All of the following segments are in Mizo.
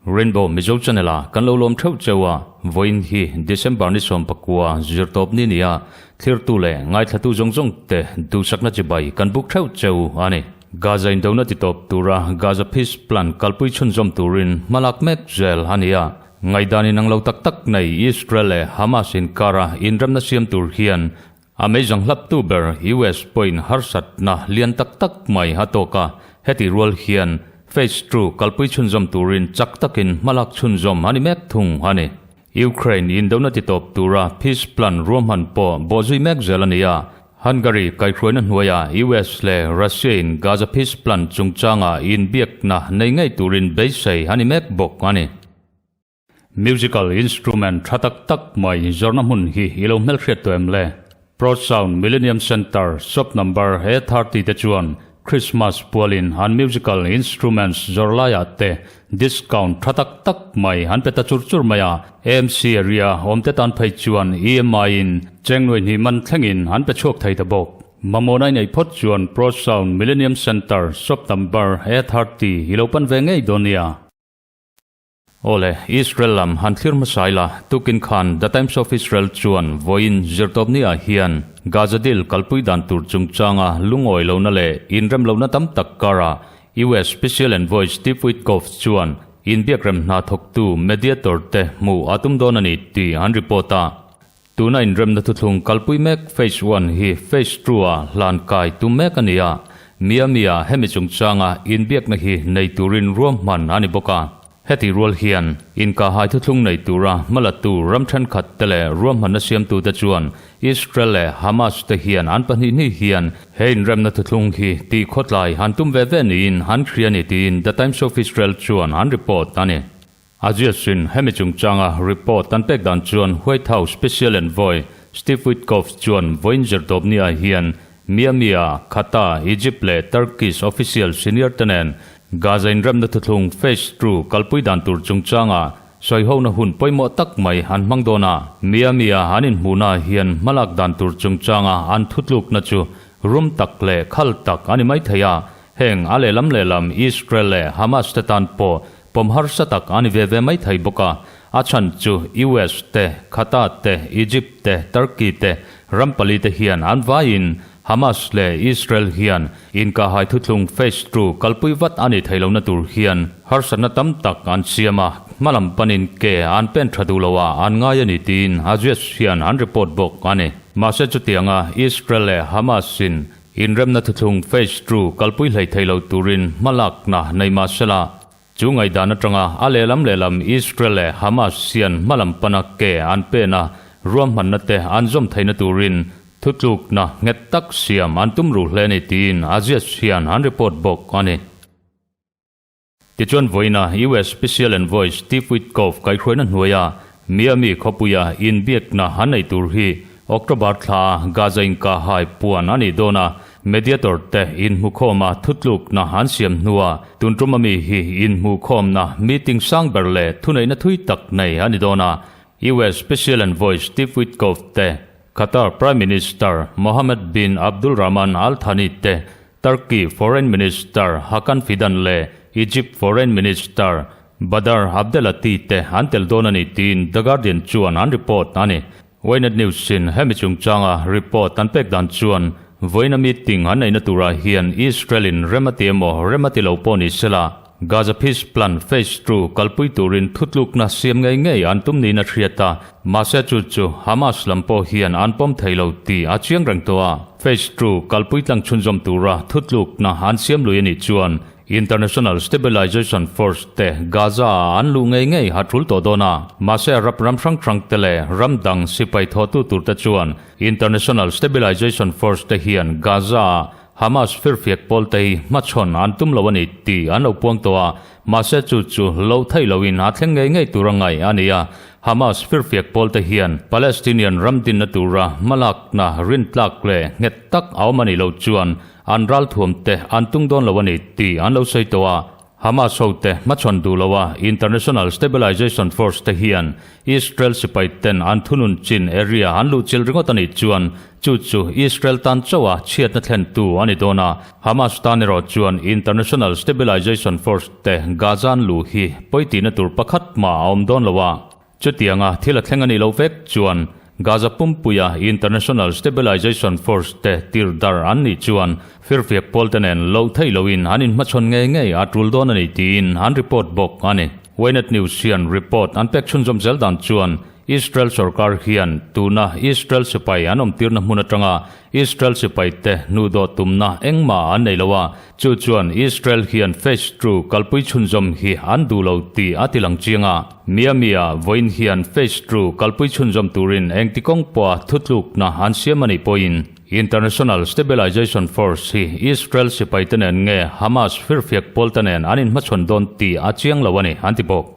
Rainbow Mizo Channel a kan lo lawm theuh cheu a, vawiin hi December ni sawm pakua zirtawp ni nia thlirtu leh ngaithlatu zawng zawng te duhsakna chi bai kan buk theuh cheu a ni. Gaza indona ti tawp tura Gaza Peace Plan kalpui chhunzawm turin hmalak mek zel a ni a. Ngaihdanin ang lo tak tak nei Israel leh Hamas inkara inremna siam tur hian a meizang hlaptu ber US pawhin harsatna lian tak tak mai a tawk a, heti rual hian Phase Two kalpui chhunzawm turin chak takin hmalak chhunzawm a ni mek thung a ni. Ukraine indona titawp tura Peace Plan ruahman pawh bawh zui mek zel a ni a, Hungary kaihhruaina hnuaia US leh Russia-in Gaza Peace Plan chungchanga inbiakna nei ngei turin beisei a ni mek bawk a ni. Musical instrument tha tak tak mai zawrhna hmun hi i lo hmelhriat tawh em le? Pro Sound Millennium Center, Shop Number A thirty te chuan Christmas pualin an musical instruments zawrh laiah te discount tha tak tak mai an pe ta chur chur mai a, AMC area awmte tan phei chuan EMI in cheng nuai hnih man thlengin an pe chhuak thei ta bawk. Mamawna inei phawt chuan Pro Sound Millenium Centre shop number A thirty i lo pan ve ngei dawn nia. Awle, Israel lam han thlir hmasa ila, tukin khan The Times of Israel chuan vawiin zirtawp ni ah hian Gaza deal kalpui dan tur chungchanga lungawi lohna leh inrem lohna tam tak kara US Special Envoy Steve Witkoff chuan inbiakrem hna thawktu mediator te hmuh a tum dawn a ni tih an report a. Tun a inremna thuthlung kalpui mek Phase One hi Phase Two-a hlan kai tum mek a ni a, mi a mi a hemi chungchanga inbiakna hi nei turin ruam hman a ni bawk a. Heti rual hian inka hai thuthlung nei tura hma la tu ram thenkhat te leh ruam hmanna siamtu te chuan Israel leh Hamas te hian an pahnih hnih hian he inremna thuthlung hi tih khawtlai han tum ve ve niin han hria a ni tiin The Times of Israel chuan an report a ni. A ziasin, hemi chungchanga report kan pek dan chuan White House Special Envoy Steve Witkoff chuan vawiin Zerdobnia hian Miami-a Qatar, Egypt leh Turkish official senior te nen Gaza inremna thuthlung phase two kalpui dan tur chungchanga sawihona hun pawimawh tak mai an hmang dawn a. Miami-a an inhmuhna hian hmalak dan tur chungchanga an thutlukna chu rum tak leh khal tak a ni mai thei a, heng a lehlam lehlam Israel leh Hamas te tan pawh Pawm harsa tak a ni ve ve mai thei bawk a, a chhan chu US te, Qatar te, Egypt te, Turkey te ram pali te hian an vaiin Hamas leh Israel hian inkahhai thuthlung phase two kalpui vat a ni thei lohna tur hian harsatna tam tak an siam a, hmalam panin ke an pen tha duh lo a an ngai a ni tiin Aziz hian an report bawk a ni. Mahse chutianga Israel leh Hamas-in Inremna thuthlung phase two kalpui hlei thei lo turin hma lakna nei mahsela, chu ngaihdan atanga a lehlam lehlam Israel leh Hamas hian hma lam pana ke an pena ruahmanna te an zawm theihna turin thutlukna nghet tak siam an tum ruh hle a ni tiin Aziz hian an report bawk a ni. Tichuan vawiina US Special Envoy Steve Witkoff kaihhruaina hnuaia Miami khawpuia inbiakna a nei tur hi October thlaa Gaza inkahhai puan a nih dawn a, mediator te inhmukhawma thutlukna an siam hnua tun ṭum ami hi inhmuhkhawmna meeting sang ber leh thuneihna thui tak nei a ni dawn a, US Special Envoy Steve Witkoff te Qatar Prime Minister Mohammed bin Abdulrahman Al Thani te Turkey Foreign Minister Hakan Fidan leh Egypt Foreign Minister Badr Abdelatty te an tel dawn a ni tiin The Guardian chuan an report a ni. Ynet News-in hemi chungchanga report an pek dan chuan vawiina meeting an neihna turah hian Israel-in rem a ti emaw rem a ti lo pawh ni sela, Gaza Peace Plan Phase Two kalpui turin thutlukna siam ngei ngei an tum niin a hriat a, mahse chu chu Hamas lam pawh hian an pawm thei lo tih a chiang reng tawh a. Phase Two kalpui tlang chhunzawm tura thutlukna an siam lui a nih chuan International Stabilization Force te Gaza-a an luh ngei ngei a tul tawh dawn a, mahse rap ram hrang hrang te leh ram dang sipai thawhtu tur te chuan International Stabilization Force te hian Gaza-a Hamas firfiak pawl te hi hmachhawn an tum lo a ni tih an lo puang tawh a, mahse chu chu lo theih lo in a thleng ngei ngei tur a ngaih a ni a. Hamas firfiak pawl te hian Palestinian ram dinna tura hmalakna rintlak leh nghet tak a awm a nih loh chuan an ral thuam te an tung dawn lo a ni tih an lo sawi tawh a, Hamas hote hmachhawn duh loa International Stabilization Force te hian Israel sipai ten an thunun chin area an luhchil ringawt a nih chuan chu chu Israel tan chauha chhiatna thlentu a ni dawn a. Hamas tan erawh chuan International Stabilization Force te Gaza an luh hi pawi tihna tur pakhat hma a awm dawn lo a. Chutianga thil a thleng a nih loh vek chuan Gaza pumpuia International Stabilization Force te tir dar an nih chuan firfiak pawlte nen loh theih lohin an in hmachhawn ngei ngei a tul dawn a ni tiin an report bawk a ni. Ynet News hian report an pek chhunzawm zel dan chuan Israel sorkar hian tuna Israel sipai an awmtirna hmun atanga Israel sipaite hnu dawt tumna engmah an nei lo a, chu chuan Israel hian Phase Two kalpui chhunzawm hi an duh lo tih a tilang chiang a. Miami-a vawiin hian Phase Two kalpui chhunzawm turin engti kawng pawha thutlukna an siam a nih pawhin, International Stabilization Force hi Israel sipaite nen nge Hamas firfiak pawlta nen an inhmachhawn dawn tih a chiang lo a ni, an ti bawk.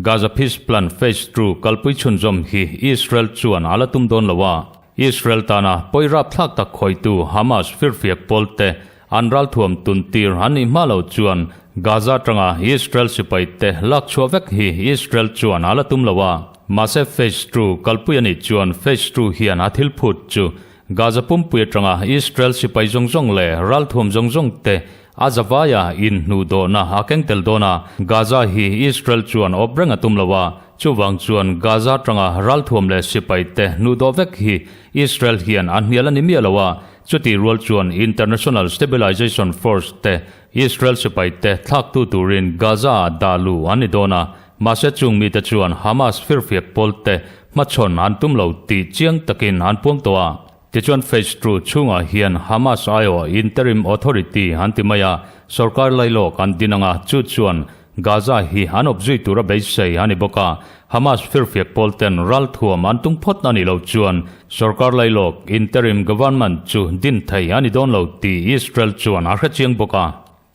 Gaza Peace Plan Phase Two kalpui chhunzawm hi Israel chuan a la tum dawn lo a, Israel tana pawi rapthlak tak hawitu Hamas firfiak pawlte an ralthuam tun tir an nih hma lo chuan Gaza atanga Israel sipaite lak chhuah vek hi Israel chuan a la tum lo a, mahse Phase Two kalpui anih chuan Phase Two hian a thil phut chu Gaza pumpui atanga Israel sipai zawng zawng leh ralthuam zawng zawngte A Zavaya in hnu dawhna a keng tel dawn a, Gaza hi Israel chuan awp reng a tum lo a, chuvang chuan Gaza tanga ralthuam leh sipai te hnu dawh vek hi Israel hian a hnial a ni miah lo a, chuti rual chuan International Stabilization Force te Israel sipai te thlaktu turin Gaza ah dah lu an ni dawn a, mahse chung mite chuan Hamas firfiak pawl te hmachhawn an tum lo tih chiang takin an puam tawh a. Tichuan Phase two chhungah hian Hamas aiawh Interim Authority an ti mai a, sawrkar lai lawk an din ang a, chu chuan Gaza hi an awp zui tura beisei a ni bawk a, Hamas firfiak pawl ten ral thuam an tung phawt a nih loh chuan sawrkar lai lawk, Interim Government, chu din thei a ni dawn lo tih Israel chuan a hre chiang bawk a.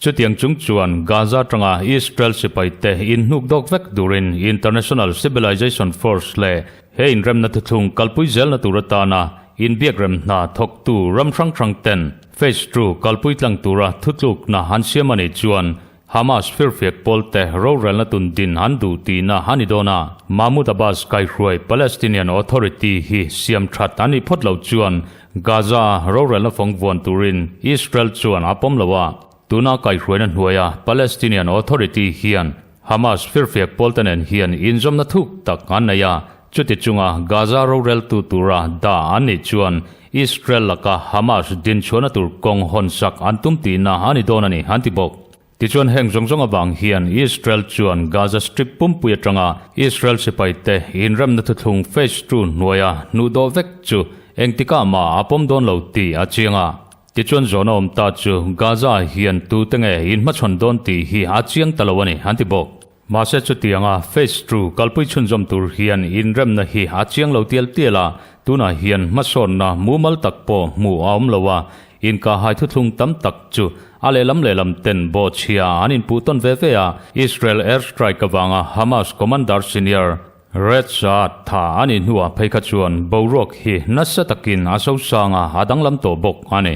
Chutiang chung chuan Gaza atanga Israel sipaite inhnuk dawk vek turin International Civilization Force leh he inremna thuthlung kalpui zelna tur atana inbiakrem hna thawktu ram hrang hrang ten Phase Two kalpui tlang tura thutlukna an siam a nih chuan Hamas firfiak pawlte rorelna tun din an duh tihna a ni dawn a. Mahmoud Abbas kaihruai Palestinian Authority hi siam that a nih phawt loh chuan Gaza rorelna fawng vuan turin Israel chuan a pawm lo a, tuna kaihhruaina hnuaia Palestinian Authority hian Hamas firfiak pawlte nen hian inzawmna thuk tak an nei a, chuti chunga Gaza roreltu tura da an nih chuan Israel laka Hamas dinchhuahna tur kawng hawnsak an tum tihna a ni dawn a ni an ti bawk. Tichuan heng zawng zawng avang hian Israel chuan Gaza Strip pumpui atanga Israel sipai te inremna thuthlung Phase Two hnuaia hnuh dawh vek chu engtikah mah a pawm dawn lo tih a chiang a. Tichuan zawn a awm ta chu Gaza-ah hian tute nge in hmachhawn dawn tih hi a chiang ta lo a ni, an ti bawk. Mahse chutianga phase two kalpui chhunzawm tur hian inremna hi a chiang lo tial tial a, tunah hian hmasawnna mumal tak pawh hmuh a awm lo a, inkhahai thuthlung tam tak chu a lehlam lehlam ten bawhchhia an inpuh tawn ve ve a, Israel air strike avanga Hamas commander senior Red Saad tha a nih hnuah phei kha chuan boruak hi nasa takin a sosanga a danglam tawh bawk a ni.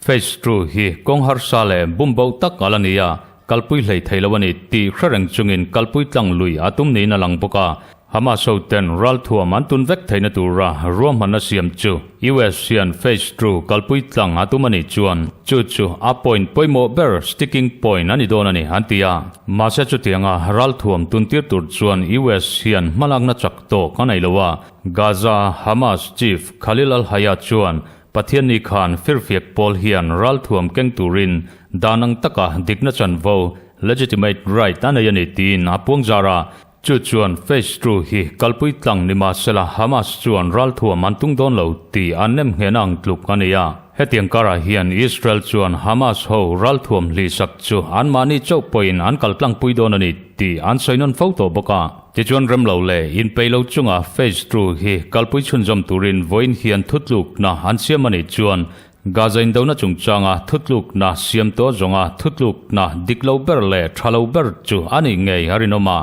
Phase two hi kawng harsa leh bumbo tak alh a ni a, kalpui hlei thei lo a ni tih hre reng chungin kalpui tlang lui a tum niin a lang bawk a. Hamas hoten ralthuam an tun vek theihna tura ruahmanna siam chu US hian phase two kalpui tlang a tum a nih chuan chu chu a point pawimawh ber, sticking point, a ni dawn a ni, an ti a. Mahse chutianga ralthuam tuntir tur chuan US hian hmalakna chak tawk a nei lo a. Gaza Hamas Chief Khalil al-Hayya chuan Pathian nih khan firfiak pawl hian ralthuam keng turin dan ang taka dikna chanvo, legitimate right, a nei a ni tiin a puang zar a. Chu chuan phase two hi kalpui tlang ni mahsela Hamas chuan ralthuam an tung dawn lo ti an nem nghehna ang tluk a ni a. Hetiang karah hian Israel chuan Hamas ho ralthuam hlihsak chu anmahni chauh pawhin an kaltlangpui dawn a ni tih an sawi nawn fo tawh bawk a. Tichuan remlo leh in peilo chunga phase two hi kalpui chhunzawm turin vawiin hian thutlukna an siam a nih chuan Gaza indona chungchanga thutlukna siam tawh zawnga thutlukna diklo ber leh thalo ber chu a nih ngei a rinawm a,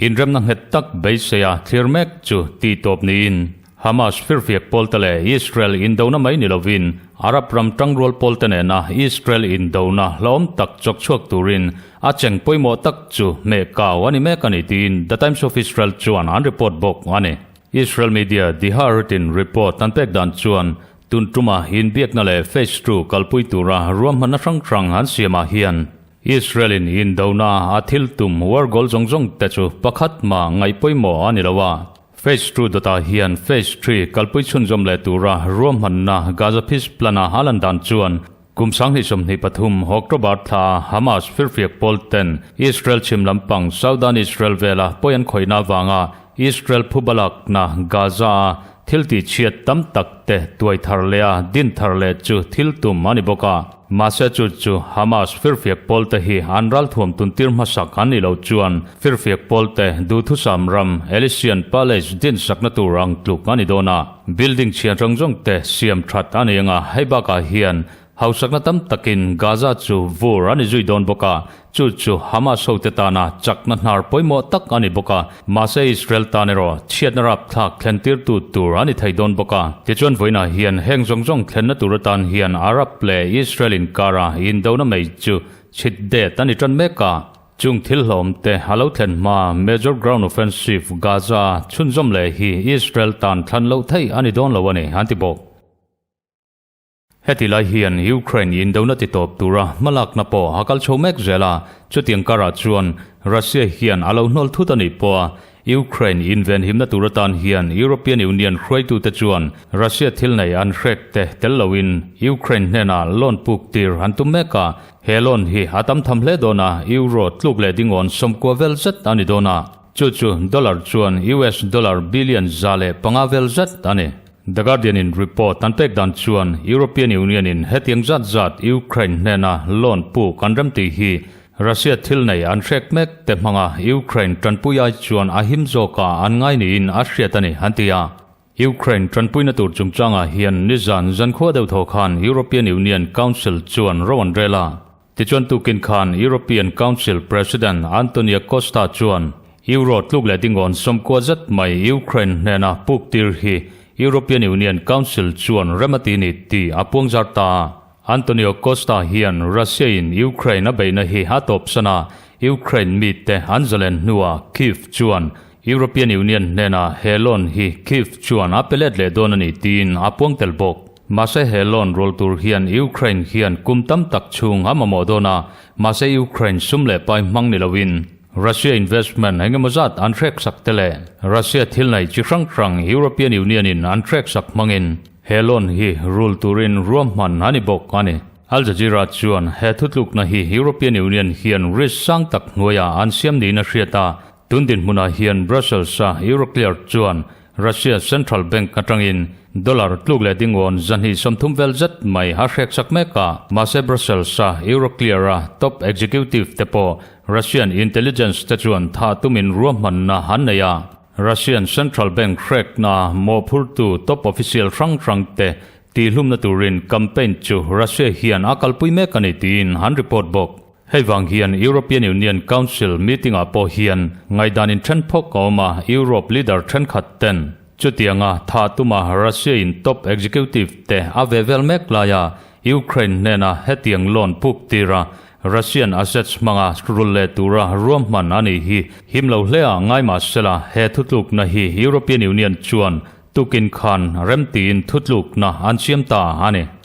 inremna nghet tak beiseia thlir mek chu tih tawp niin. Hamas firfiak pawlte leh Israel indona mai ni lovin Arab ram tangrual pawlte nena Israel indona hlauhawm tak chawk chhuak turin a cheng pawimawh tak chu hmehkau a ni mek a ni tiin The Times of Israel chuan an report bawk a ni. Israel media The Haaretzin report an pek dan chuan tun ṭuma inbiakna leh phase two kalpui tura ruahmanna hrang hrang an siamah hian Israel-in indona a thil tum war goal zawng zawngte chu pakhat mah ngaih pawimawh a ni lo a, Phase Two dawtah hian Phase Three kalpui chhunzawm leh tura ruahmanna Gaza Peace Plan-a a lan dan chuan kum sanghnih sawmhnih pathum October thlaah Hamas firfiak pawl ten Israel chhim lampang Southern Israel vela pawi an khawihna avanga Israel phu balakna Gaza-a thiltihchhiat tam takte tuai thar leh a din thar leh chu thil tum a ni bawk a. Mahsechut chu Hamas firfiak pawlte hi an ralthuam tuntir hmasak an nih loh chuan firfiak pawlte duhthusam ram Elysian Palace dinsakna tur ang tluk a ni dawn a. Building chhian zawng zawng te siam that a ni anga hei bakah hian hausakna tam takin Gaza chu vur a ni zui dawn bawk a. Chu chu Hamas hote tana chakna hnar pawimawh tak a ni bawk a, mahse Israel tan erawh chhiatna rapthlak thlentirtu tur a ni thei dawn bawk a. Tichuan vawiinah hian heng zawng zawng thlenna tur atan hian Arab leh Israel inkara indona mei chu chhit det a ni tan mek a. Chung thil hlawmte a lo thlen hma Major Ground Offensive Gaza chhunzawm leh hi Israel tan thlan loh theih a ni dawn lo a ni an ti bawk. Heti lai hian Ukraine i indona ti tawp tura hmalakna pawh a kal chho mek zel a, chutiang karah chuan Russia hian a lo hnawl thut a nih pawh a, Ukraine i invenhimna tur atan hian European Union hruaitute chuan Russia thil nei an hrek teh tel loin Ukraine hnenah loan puk tir an tum mek a, he loan hi a tam tham hle dawn a, Euro tluk leh dingawn sawmkua vel zet a ni dawn a, chu chu dollar chuan US dollar billion za leh panga vel zet a ni. The Guardian-in report an pek dan chuan European Union-in hetiang zat zat Ukraine hnena loan puk an rem tih hi Russia thil nei an hrek mek te hmanga Ukraine tanpui ai chuan a him zawka an ngai niin a hriat a ni, an ti a. Ukraine tanpuina tur chungchangah hian nizan zankhua deuh thaw khan European Union Council chuan ro an rel a. Tichuan tukin khan European Council President Antonia Costa chuan Euro tluk leh dingawn sawmkua zet mai Ukraine hnena puk tir hi European Union Council chuan rem a ti ni tih a puang zar ta a. Antonio Costa hian Russia-in Ukraine a beihna hi a tawpsana Ukraine mite an zalen hnua Kyiv chuan European Union hnena he loan hi Kyiv chuan a pe let leh dawn a ni tiin a puang tel bawk. Mahse he loan rual tur hian Ukraine hian kum tam tak chhung a mamawh dawn a, mahse Ukraine sum leh pai hmang ni loin Russia investment engemaw zat an hreksak te leh Russia thil neih chi hrang hrang European Union in an hreksak hmangin he loan hi rul turin ruahman a ni bawk a ni. Al Jazeera chuan he thutlukna hi European Union hian risk sang tak hnuaiah an siam niin a hriat a, Tun dinhmunah hian Brussels-a Euroclear chuan Russia Central Bank atangin dollar tluk leh dingawn zahnih sawmthum vel zet mai a hrekchak mek a. Mahse Brussels-a Euroclear-a top executive-te pawh Russian intelligence-te chuan thah tumin ruahmanna an nei a. Russian Central Bank hrekna mawhphurtu top official hrang hrangte tihhlumna turin campaign chu Russia hian a kalpui mek a ni tiin an report bawk. Hei vang hian European Union Council meeting-ah pawh hian ngaidanin ṭhenphawk a awm a, Europe leader ṭhenkhat ten. Chutianga thah tuma Russia-in top executive te a ve vel mek laia Ukraine hnena hetiang loan puk tira Russian assets hmanga rul leh tura ruahman a nih hi him lo hle a ngai mahsela he thutlukna hi European Union chuan tukin khan remtiin thutlukna an siam ta a ni.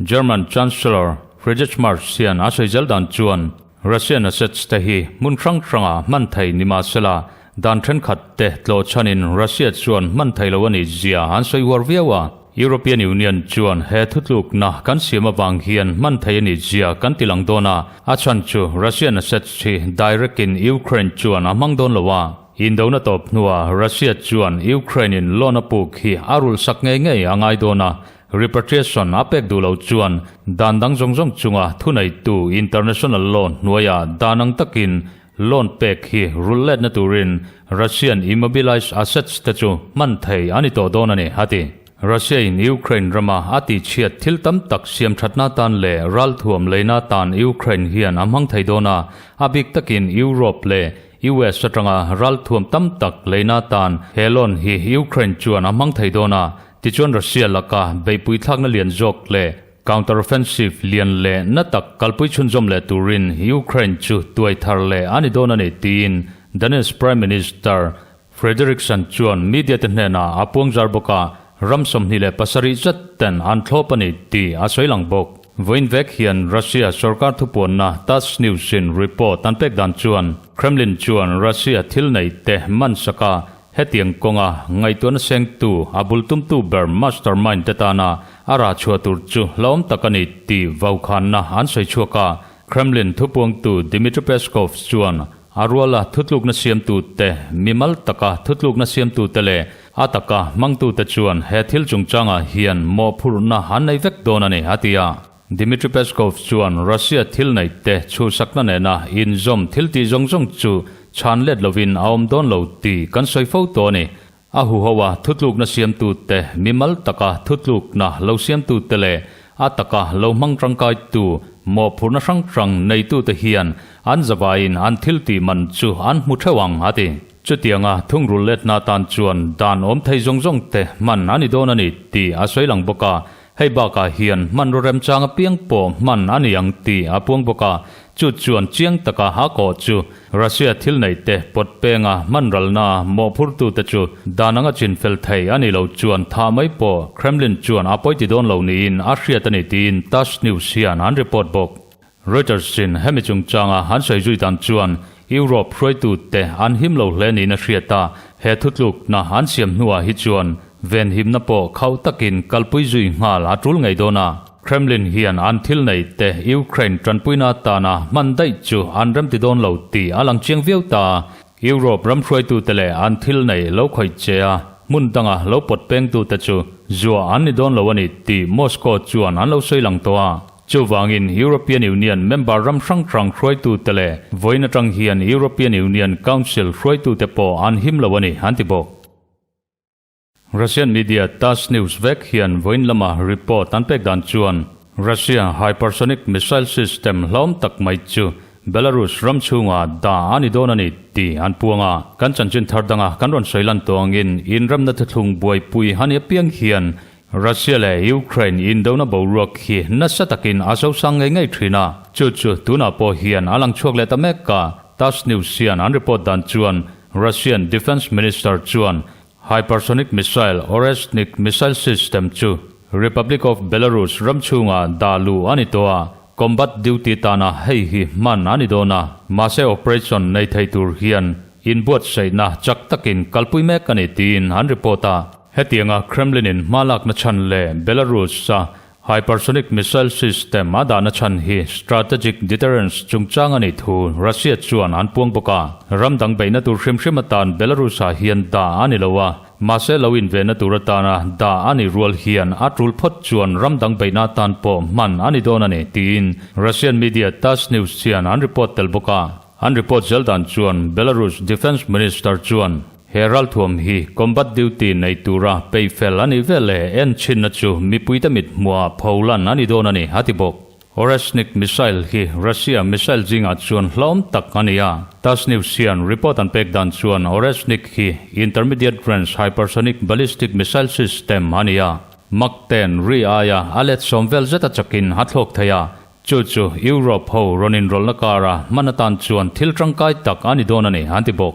German Chancellor Friedrich Merz hian a sawi zel dan chuan Russia assets te hi hmun hrang hranga hman thei ni mah se la, dan thenkhat te tlawh chhanin Russia chuan hman thei lo a ni zia an sawi uar viau a. European Union chuan he thutlukna kan siam avang hian hman thei a ni zia kan ti lang dawn a, a chhan chu Russian assets hi direct in Ukraine chuan a hmang dawn lo a. Indona tawp hnuah Russia chuan Ukraine-in loan a puk hi a rulhsak ngei ngei a ngai dawn a, Repatriation a pek duh loh chuan dan dang zawng zawng chunga thuneitu international law hnuaia dan ang takin loan pek hi rul letna turin Russian immobilized assets te chu hman thei a ni tawh dawn a ni a ti. Russia-in Ukraine rama a tihchhiat thil tam tak siamthatna atan leh ralthuam leina atan Ukraine hian a hmang thei dawn a, a bik takin Europe leh US atanga ralthuam tam tak leina atan he loan hi Ukraine chuan a hmang thei dawn a, Tichuan Russia laka beipui thlakna lian zawk leh counteroffensive lian leh na tak kalpui chhunzawm leh turin Ukraine chu tuai thar leh a ni dawn a ni tiin Danish Prime Minister Frederiksen chuan media te hnenah a puang zar bawk a, ram sawmhnih leh pasarih zet ten an thlawp a ni tih a sawi lang bawk. Vawiin vek hian Russia sorkar thupuanna Tass News-in report an pek dan chuan Kremlin chuan Russia thil neih te man saka Hetiang kawnga ngaihtuahna sengtu, a bul tumtu ber mastermind-te tana a ra chhuah tur chu hlauhawm tak a ni tih vaukhânna an sawi chhuak a. Kremlin thupuangtu Dmitry Peskov chuan a ruala thutlukna siamtute, mimal taka thutlukna siamtute leh a taka hmangtute chuan he thil chungchangah hian mawhphurhna an nei vek dawn a ni a ti a. Dmitry Peskov chuan Russia thil neihte chhusakna nena inzawm thiltih zawng zawng chu chhan let lovin a awm dawn lo tih kan sawi fo tawh a ni. A huhoa thutlukna siamtute, mi mal taka thutlukna lo siamtute leh a taka lo hmang tangkaitu mawhphurhna hrang hrang neitute hian an zavaiin an thil tih man chu an hmu theuh ang, a ti. Chutianga thungrul let hna tan chuan dan awmthei zawng zawngte hman a ni dawn a ni tih a sawi lang bawk a, Hei bakah hian hmanraw remchang apiang pawh hman a ni ang tih a puang bawk a, chu chuan chiang taka a kawh chu Russia thil neihte pawt penga hmanralna mawhphurtute chu dan anga chinfel thei a nih lo chuan thah mai pawh Kremlin chuan a pawi ti dawn lo niin a hriat a ni tiin Tass News hian an report bawk. Reuters chin hemi chungchanga an sawi zui dan chuan Europe hruaitute an him lo hle niin a hriat a, he thutlukna an siam hnuah hi chuan venhimna pawh khauh takin kalpui zui nghal a tul ngei dawn a. Kremlin hian an thil neihte Ukraine tanpuina atana hman daih chu an remti dawn lo tih a lang chiang viau ta a, Europe ram hruaitute leh an thil neih lo khawih che a hmun danga lo pawt pengtute chu zuah an ni dawn lo a ni tih Moscow chuan an lo sawi lang tawh a. Chuvangin European Union member ram hrang hrang hruaitute leh vawiin atang hian European Union Council hruaitute pawh an him lo a ni, an ti bawk. Russian media Tass News vek hian vawiin lama report an pek dan chuan Russia hypersonic missile system hlawm tak mai chu Belarus ram chhunga dah a ni dawn a ni tih an puang a. Kan chanchin thar danga kan rawn sawi lan tawngin Inramna thuthlung buaipui a ni apiang hian Russia leh Ukraine indona boruak hi nasa takin a sosang ngei ngei thin a, chu chu tunah pawh hian a lang chhuak leh ta mek a. Tass News hian an report dan chuan Russian Defence Minister chuan hypersonic missile Oreshnik missile system chu Republic of Belarus ram chhungah dah luh a ni tawh a, combat duty tana hei hi hman a ni dawn a, mahse operation nei thei tur hian inbuatsaihna chak takin kalpui mek a ni tiin an report a. Hetianga Kremlin-in hmalakna chhan leh Belarus-a hypersonic missile system a dahna chhan hi strategic deterrence chungchang a nih thu Russia chuan an puang bawk a. Ram dang beihna tur hrim hrim atan Belarus-ah hian dah a ni lo a, mahse lo invenna tur atana dah a nih rual hian a tul phawt chuan ram dang beihna atan pawh hman a ni dawn a ni, tiin Russian media Tass News hian an report tel bawk a. An report zel dan chuan Belarus Defence Minister chuan. He ralthuam hi combat duty nei tura pay fel a nih vel le, en chinna chu mipuite mithmuha pho lan a ni dawn a ni, a ti bawk. Oreshnik missile hi Russia missile zingah chuan hlauhawm tak a ni a, Tass News hian report an pek dan chuan Oreshnik hi Intermediate Range Hypersonic Ballistic Missile System a ni a, Mach ten ri aia a let sawm vel zeta chakin a thlawk thei a, chu chu Europe ho rawn inrawlhna kara hman atan chuan thil tangkai tak a ni dawn a ni, a ti bawk.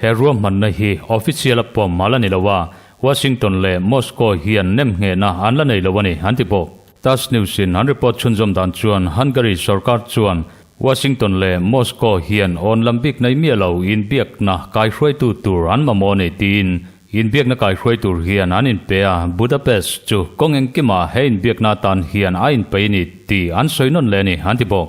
He ruahmanna hi official a pawm a la ni lo a, Washington leh Moscow hian nem nghehna an la nei lo a ni, an ti bawk. Tass News-in an report chhunzawm dan chuan Hungary sorkar chuan Washington leh Moscow hian awn lam bik nei miah lo inbiakna kaihruaitu tur an mamawh a ni tiin inbiakna kaihruai tur hian an inpe a, Budapest chu kawng engkimah he inbiakna atan hian a inpei a ni tih an sawi nawn leh a ni, an ti bawk.